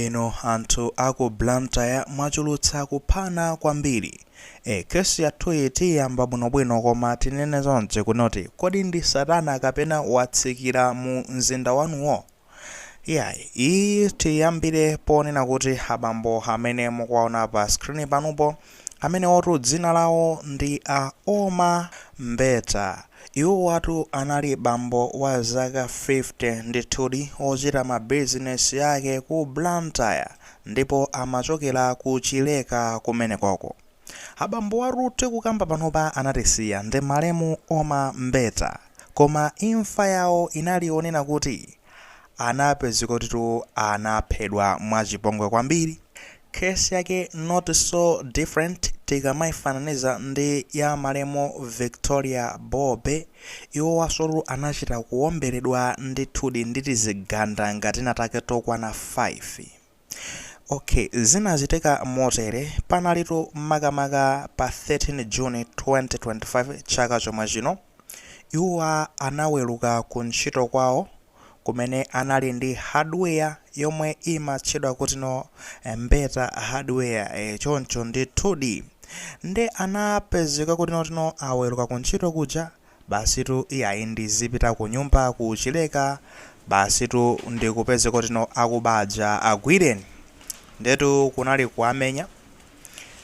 Inu anthu a ku Blantyre mwachulutsa kuphana kwambiri. Eh case yathuyi tiyiyamba bwinobwino koma tinene zonena kuti kodi ndi satana kapena watsikira mu mzinda wanuwo? Iyayi iyiyi tiyiyambire ponena kuti abambo amene mukuwaona pa screen panupo amenewotu dzina lawo ndi a Oma Mbeta. Iwowatu anali bambo wa zaka 50 ndithudi ochita mabizinesi yake ku Blantyre ndipo amachokera ku Chileka kumenekoko. Abambowatu tikukamba panopa anatisiya ndi malemu Oma Mbeta koma imfa yawo inali yonena kuti anapezeka kutitu anaphedwa mwachipongwe kwambiri. Case yake not so different tikamaifananiza ndi ya malemu Victoria Bobe, iwowasotu anachita kuomberedwa ndithudi ndi tizigandanga tinatake tokwana 5. Ok, zinachitika motere, panalitu makamaka pa 13 June 2025 chaka chomwe chino, iwowa anaweruka ku ntchito kwawo, kumene anali ndi hardware yomwe imatchedwa kutino eh, Mbeta hardware eh, choncho ndithudi nde anapezeka kutino aweruka ku ntchito kuja basitu iyayi ndizipita ku nyumba ku Chileka basitu ndikupezeka kutino akubaja agwireni ndetu kunali kuwamenya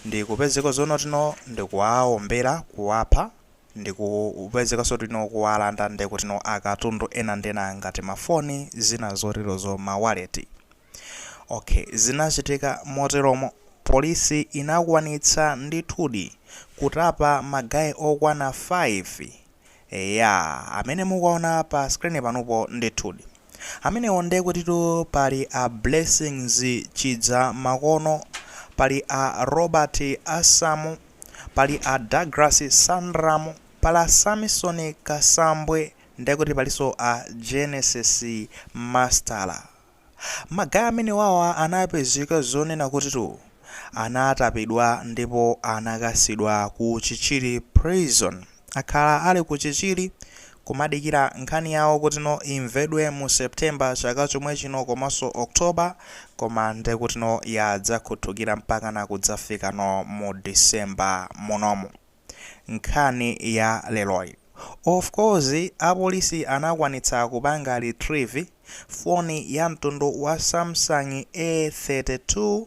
ndikupezeka zonotino ndikuwaombera kuwapha ndikupezekaso kutino kuwalanda nde kutino akatundu ena ndi ena ngati ma foni zina zoterozo ma waleti ok zinachitika moteromo police inakwanitsa ndithudi kutapa ma guy okwana 5 eya amene mukuwaona pa screen panupo ndithudi amenewo nde kutitu pali a Blessings Chidzamakono pali a Robert Asamu Pali a Douglas Sandramu, pali a Samson Kasambwe nde kuti palinso a Genesis Mastala. Ma guy amenewawa anapezeka zonena kutitu anatapidwa ndipo anakasidwa ku Chichiri Prison. akhala ali ku Chichiri kumadikira nkhani yawo kutino imvedwe mu September chaka chomwe chino komanso October koma ndekutino yadzakhuthukira mpakana kudzafikano mu December munomu. Nkhani ya leroyi. Of course apolisi anakwanitsa kupanga retrieve foni ya mtundu wa Samsung A32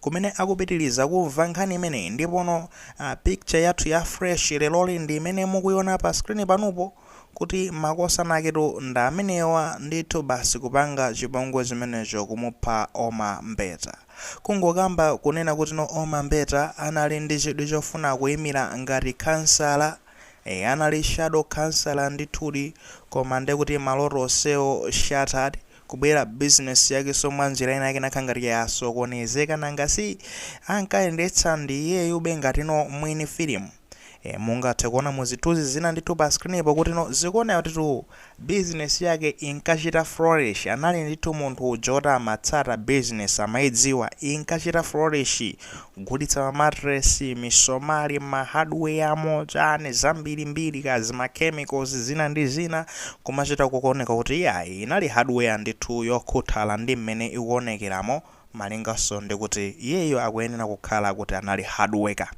kumene akupitiliza kumva nkhani imeneyi ndipono picture yathu ya fresh leroli ndi imene mukuiona pa screen panupo kuti makosana ake tu ndi amenewa ndithu basi kupanga chipongwe chimenecho kumupha Oma Mbeta kungokamba kunena kutino Oma Mbeta anali ndi chidwi chofuna kuimira ngati khansala e, anali shadow khansala ndithudi koma ndekuti maloto onsewo shattered. kubwera business yakenso mwanjira ina yake inakhala ngati yasokonezeka nanga si ankayendetsa ndi iyeyube ngatino mwini filimu e, mungathe kuona mu zithunzi zina ndithu pa screenipo kutino zikuoneka kutitu business yake inkachita flourish anali ndithu munthu uja oti amatsata business amayidziwa inkachita flourish Kugulitsa ma mattress, misomali, ma hardware amo chani, zambiri mbiri kazi, ma chemicals, zina ndi zina, kumachita kukuoneka kuti iyayi inali hardware ndithu yokhuthala ndi mmene ikuonekeramo malinganso ndi kuti iyeyo akuyenera kukhala kuti anali hardworker.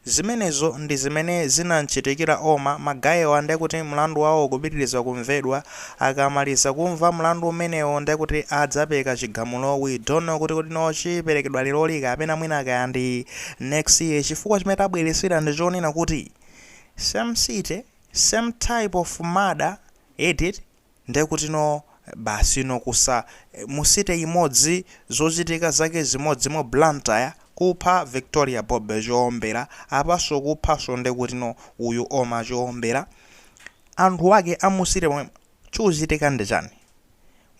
Zimenezo ndi zimene zinam'chitikira Oma. Magayiwa ndiye kuti mlandu wawo ukupitiriza kumvedwa. Akamaliza kumva mlandu umenewo, ndiye kuti adzapereka chigamulo. We don't know kuti kodi no chiperekedwa leroli kapena mwina kaya ndi next year chifukwa chimene tabweretsera ndi chonena kuti same city, same type of murder, eti? Ndekutino basi you know kusa mu city imodzi zochitika zake zimodzi mu Blantyre kupha Victoria Bobe choombera apanso kuphanso ndekutino uyu Oma choombera anthu ake a mu city momwemo chikuchitika ndi chani?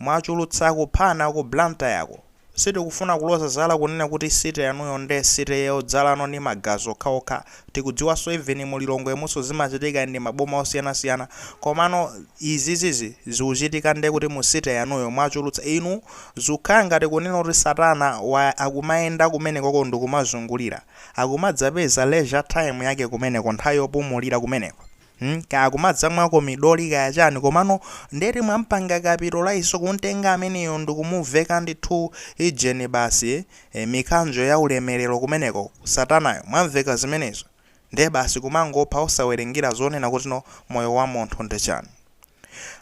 Mwachulutsa kuphana ku Blantyre ko. Sitikufuna kuloza zala kunena kuti city yanuyo nde city yodzalano ndi magazi okhaokha tikudziwanso even mu Lilongwemunso zimachitika ndi maboma osiyanasiyana komano izizizi zikuchitika nde kuti mu city yanuyo mwachulutsa inu zikukhala ngati kunena kuti satana waya akumayenda kumenekoko ndikumazungulira akumadzapeza leisure time yake kumeneko nthawi yopumulira kumeneko Hmm, kaya kumadzamwako midoli kaya chani komano ndeti mwampanga capitalize kumtenga ameneyo ndikumuveka ndithu ijeni basi e, mikanjo ya ulemerero kumeneko satanayo mwamuveka zimenezo ndiye basi kumangopha osawerengera zonena kuti no moyo wa munthu ndi chani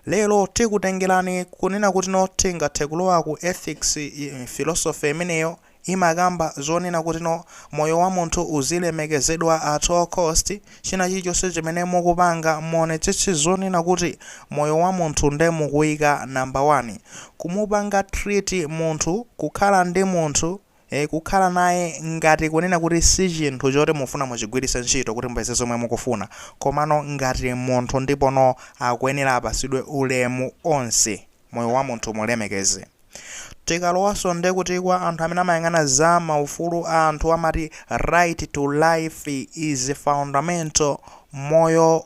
Lero tikutengerani kunena kuti no tingathe kulowa ku ethics philosophy imeneyo imakamba zonena kuti no moyo wa munthu uzilemekezedwa at all cost china chilichonse chimene mukupanga muonetsetse zonena kuti moyo wa munthu nde mukuika number one kumupanga treat munthu kukhala ndi munthu E, kukhala naye ngati kunena kuti si chinthu choti mufuna muchigwiritse ntchito kuti mupeze zomwe mukufuna, komano ngati munthu ndipono akuyenera apatsidwe ulemu onse, moyo wa munthu mulemekeze. Tikalowanso nde kuti kwa anthu amene amayang'ana za ma ufulu a anthu amati right to life is fundamental moyo,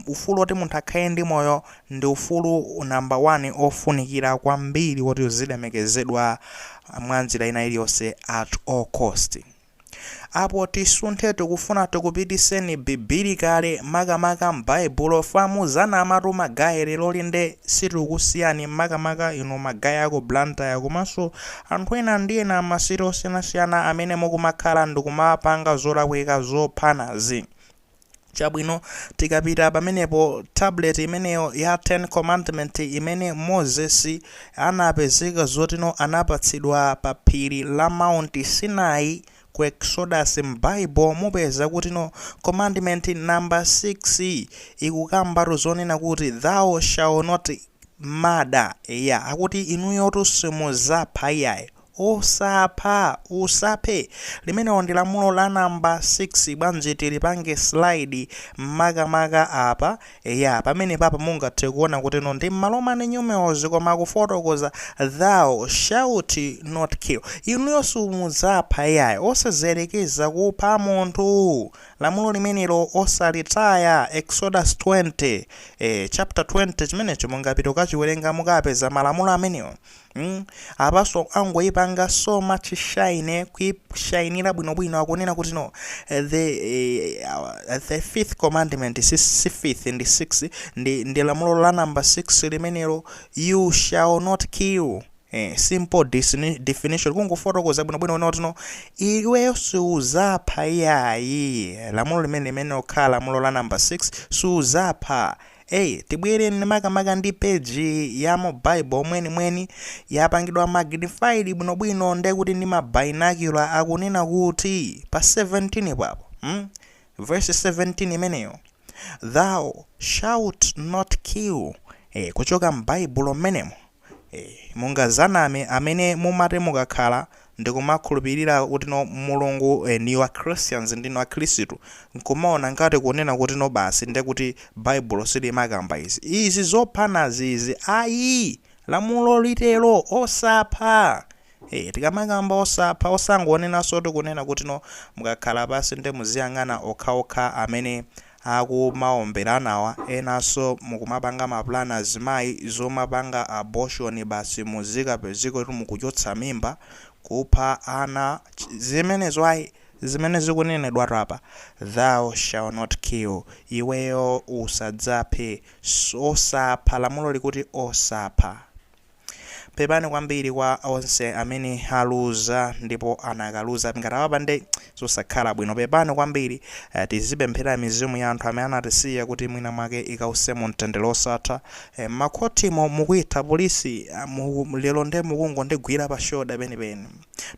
ufulu oti munthu akhale ndi moyo Ndi ufulu namba wani ofunikira kwambiri woti uzilemekezedwa mwanjira ina iliyonse at all cost. Apo tisunthe tikufuna tikupitiseni biblically makamaka m'baibulo chifukwa muzanamatu ma guy lero lino nde sitikukusiyani makamaka inu ma guy aku Blantyre komanso anthu ena ndi ena ma city osiyanasiyana amene mukumakhala ndikumapanga zolakwika zophanazi. Chabwino, tikapita pamenepo, tablet imeneyo ya Ten Commandment imene Moses anapezeka zotino anapatsidwa pa phiri la Mount Sinai ku Exodus m'Bible mupeza kutino Commandment number 6 ikukambatu zonena kuti thou shall not murder, eya akuti inuyotu simuzapha iyayi. Osapha, Usaphe, limenelo ndi lamulo la number 6 bwanji tilipange slide makamaka apa, eya pamenepapa mungathe kuona kutino ndi m'ma Roman numerals koma akufotokoza thou shalt not kill, inuyo simudzapha iyayi, osadziyerekeza kupha munthu, lamulo limenelo osalitaya, Exodus 20, eh chapter 20 chimenecho mungapite kukachiwerenga mukapeza malamulo amenewo. Hmm? Apanso angoipanga so much shine kuishainira bwinobwino akunena kutino eh, the, eh, uh, the fifth commandment si, si fifth ndi six ndi, ndi lamulo la number six limenelo you shall not kill Eh, simple disini- definition kungofotokoza bwinobwino kuona kutino iweyo siuzapha iyayi lamulo limene limene okhala lamulo la number 6 siuzapha Hey, tibwere makamaka ndi page ya mu Bible mwenimweni yapangidwa magnified bwinobwino nde kuti ndi ma binocular akunena kuti pa 17 papo hmm? verse 17 imeneyo thou shalt not kill eh, kuchoka m'baibulo mmenemo eh, mungazaname amene mumati mukakhala ndikumakhulupilira kutino mulungu and you're christians ndinu akhrisitu nkumaona ngati kunena kutino basi ndekuti baibulo silimakamba izi izi zophanazi izi ayi lamulo litero osapha ee tikamakamba osapha osangonenansotu kunena kutino mukakhala pansi nde muziyang'ana okhaokha amene akumaomberanawa enanso mukumapanga ma plan azimayi omapanga abortion basi muzikapezeka kuti mukuchotsa mimba, kupha ana, zimenezo ayi zimene zikunenedwatu apa thou shall not kill iweyo usadzaphe osapha lamulo likuti osapha. pepani kwambiri kwa onse amene aluza ndipo anakaluza ngati atawapanga zosakhala bwino pepani kwambiri eh, tizipemphera mizimu ya anthu amene anatisiya kuti mwina mwake ikause mu mtendere osatha eh, makhotimo mukuitha polisi ah, mu- lero nde mukungondigwira pa shoda penipeni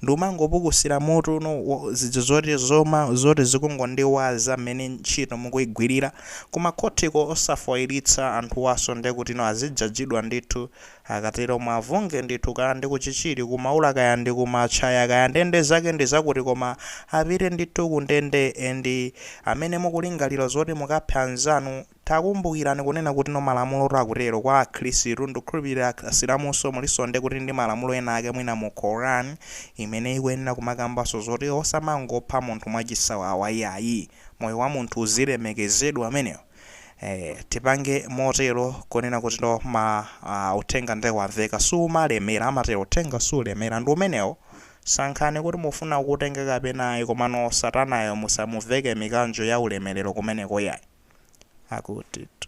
Ndikumangopukusira mutu uno wo zija zoti zoma zoti zikungondiwaza mmene ntchito mukuigwirira ku makhotiko osafoilitsa anthuwaso ndekutino azijajidwa ndithu. Akatero muavunge ndithu kaya ndi ku Chichiri, ku Maula kaya ndi ku Matchaya kaya ndende zake ndi zakuti koma apite ndithu ku ndende and amene mukulingalira zoti mukaphe anzanu Takumbukirani kunena kutino malamulotu akutero kwa akhrisitu ndikukhulupirira asilamunso mulinso ndekuti ndi malamulo ena ake mwina mu Koran imene ikuyenera kumakambanso zoti osamangopha munthu mwachisawawa iyayi moyo wa munthu uzilemekezedwa umenewo ee tipange motero kunena kutino ma uthenga nde wamveka sumalemera amatero uthenga sulemera ndi umenewo Sankhani kuti mufuna kuutenga kapena ayi komano satanayo musamuveke mikanjo ya ulemelero kumeneko yayi. Akutitu.